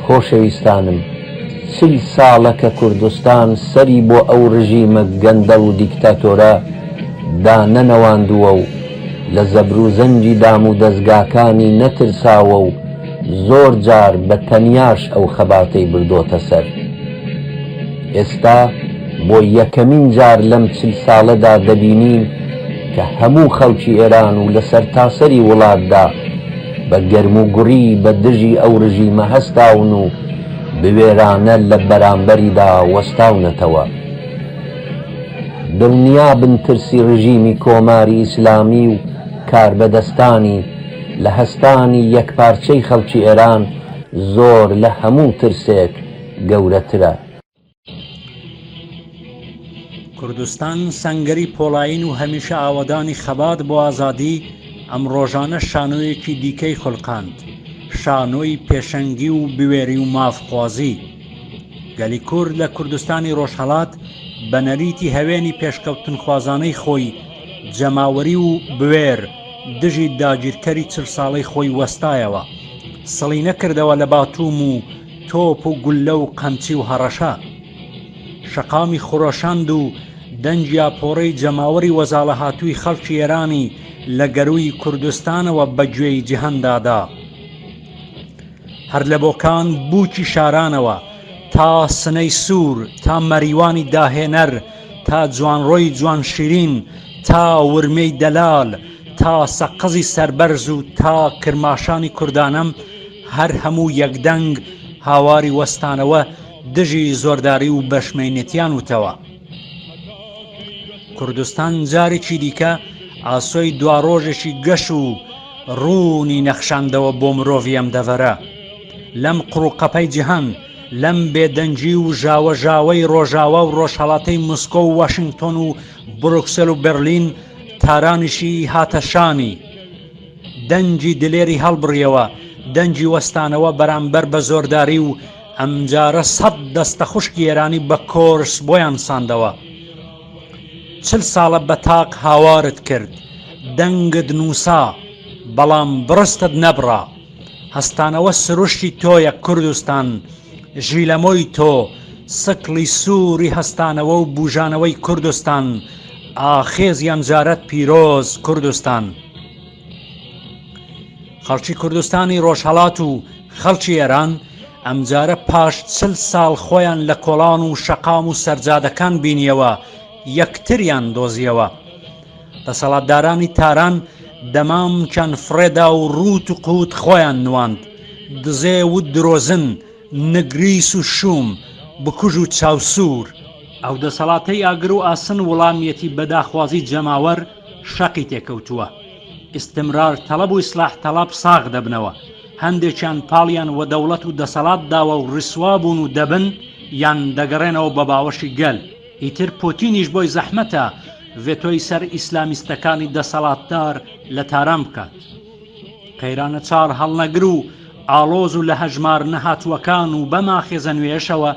خۆشەویستانم چل ساڵە کە کوردستان سەری بۆ ئەو ڕژیمە گەندەڵ و دیکتاتۆرە دانەنەواندووە و لە زەبر و زەنگی دام و دەزگاکانی نەترساوە و زۆر جار بە تەنیاش ئەو خەباتەی بردۆتە سەر. ئێستا بۆ یەکەمین جار لەم چل ساڵەدا دەبینین کە هەموو خەڵکی ئێران و لە سەرتاسەری وڵاتدا بە گەرموگوڕی بە دژی ئەو ڕژیمە هەستاون و بوێرانە لە بەرامبەریدا وەستاونەتەوە. دڵنیابن ترسی ڕژیمی کۆماری ئیسلامی و کاربەدەستانی لە هەستانی یەکپارچەی خەڵکی ئێران زۆر لە هەموو ترسێک گەورەترە. کوردستان سەنگەری پۆڵایین و هەمیشە ئاوەدانی خەبات بۆ ئازادی، ئەم ڕۆژانە شانۆیەکی دیکەی خولقاند، شانۆی پێشەنگی و بوێری و مافخوازی. گەلی کورد لە کوردستانی ڕۆژهەڵات بە نەریتی هەوێنی پێشکەوتنخوازانەی خۆی، جەماوەری و بوێر، دژی داگیرکەری چل ساڵەی خۆی وەستایەوە. سڵی نەکردەوە لە باتووم و. تۆپ و گوللە و قەمچی و هەڕەشە شەقامی خرۆشاند و دەنگی ئاپۆڕەی جەماوەری وەزاڵەهاتووی خەڵکی ئێرانی لە گەرووی کوردستانەوە بە گوێی جیهاندا دا. هەر لە بۆکان بووکی شارانەوە تا سنەی سوور تا مەریوانی داهێنەر تا جوانڕۆی جوانشیرین تا ورمێی دەلال تا سەقزی سەربەرز و تا کرماشانی کوردانەم هەر هەموو یەک دەنگ هاواری وەستانەوە دژی زۆرداری و بەشمەینەتیان وتەوە. کوردستان جارێکی دیکە ئاسۆی دواڕۆژێکی گەش و ڕوونی نەخشاندەوە بۆ مرۆڤی ئەم دەڤەرە لەم قڕوقەپەی جیهان لەم بێدەنگی و ژاوە ژاوەی ڕۆژاوا و ڕۆژهڵاتەی مسکۆ و واشنگتۆن و بروکسل و برلین تارانیشی هاتەشانی دەنگی دلێری هەڵبڕیەوە دەنگی وەستانەوە بەرامبەر بە زۆرداری و ئەمجارە سەد دەستە خوشکی ئێرانی بە کۆرس بۆیان ساندەوە چل ساڵە بە تاق هاوارت کرد دەنگت نووسا بەڵام بڕستت نەبڕا هەستانەوە سروشتی تۆیە کوردستان ژیلەمۆی تۆ سکڵی سووری هەستانەوە و بوژانەوەی کوردستان ئاخێزی ئەمجارەت پیرۆز کوردستان. خەڵکی کوردستانی ڕۆژهەڵات و خەڵکی ئێران ئەمجارە پاش چل ساڵ خۆیان لە کۆڵان و شەقام و سەرجادەکان بینیەوە یەکتریان دۆزیەوە دەسەڵاتدارانی تاران دەمامکیان فڕێدا و ڕووت و قووت خۆیان نواند دزێ و درۆزن نگریس و شوم، بکوژ و چاوسوور. ئەو دەسەڵاتەی ئاگر و ئاسن وڵامیەتی بە داخوازی جەماوەر شەقی تێکەوتووە. ئیستمرار تەڵەب و ئیسلاح تەڵەب ساغ دەبنەوە. هەندێکیان پاڵیان وە دەوڵەت و دەسەڵات داوە و ڕیسوا بوون و دەبن یان دەگەڕێنەوە بە باوەشی گەل. ئیتر پۆتینیش بۆی زەحمەتە ڤێتۆی سەر ئیسلامیستەکانی دەسەڵاتدار لە تاران بکات. قەیرانە چاڵ هەڵنەگر و ئاڵۆز و لە هەژمار نەهاتووەکان و بەم ئاخێزە نوێیەشەوە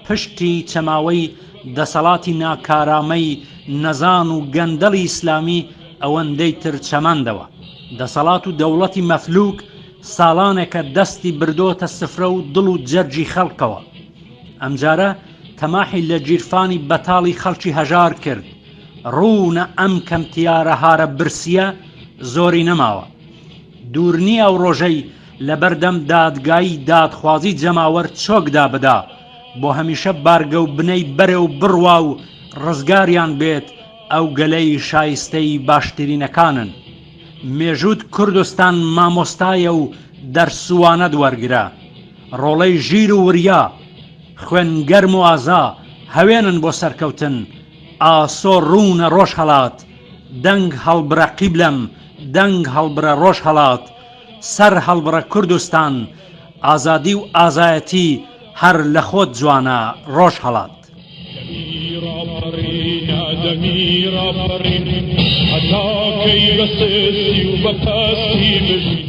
پشتی چەماوەی دەسەڵاتی ناکارامەی نەزان و گەندەڵی ئیسلامی ئەوەندەی تر چەماندەوە. دەسەڵات و دەوڵەتی مەفلوک ساڵانێکە دەستی بردۆتە سفرە و دڵ و جەرگی خەڵکەوە. ئەمجارە تەماحی لە گیرفانی بەتاڵی خەڵکی هەژار کرد. ڕوونە ئەم کەم تیارە هارە برسیە زۆری نەماوە دوورنی ئەو ڕۆژەی لەبەردەم دادگایی دادخوازی جەماوەر چۆکدا بدا بۆ هەمیشە بارگە و بنەی بەرە و بڕوا و ڕزگاریان بێت ئەو گەلەی شایستەی باشترینەکانن مێژووت کوردستان مامۆستایە و دەرسوانەت وەرگرە ڕۆڵەی ژیر و وریا خوێن گەرم و ئازا هەوێنن بۆ سەرکەوتن ئاسۆ ڕوونە ڕۆژهەڵات، دەنگ هەڵبڕە قیبلەم، دەنگ هەڵبڕە ڕۆژهەڵات، سەر هەڵبڕە کوردستان، ئازادی و ئازایەتی هەر لە خۆت جوانە ڕۆژهەڵات. دەمی ڕاپەڕینە دەمی ڕاپەڕین هەتا کەی بە سستی و بە پەستی بژین.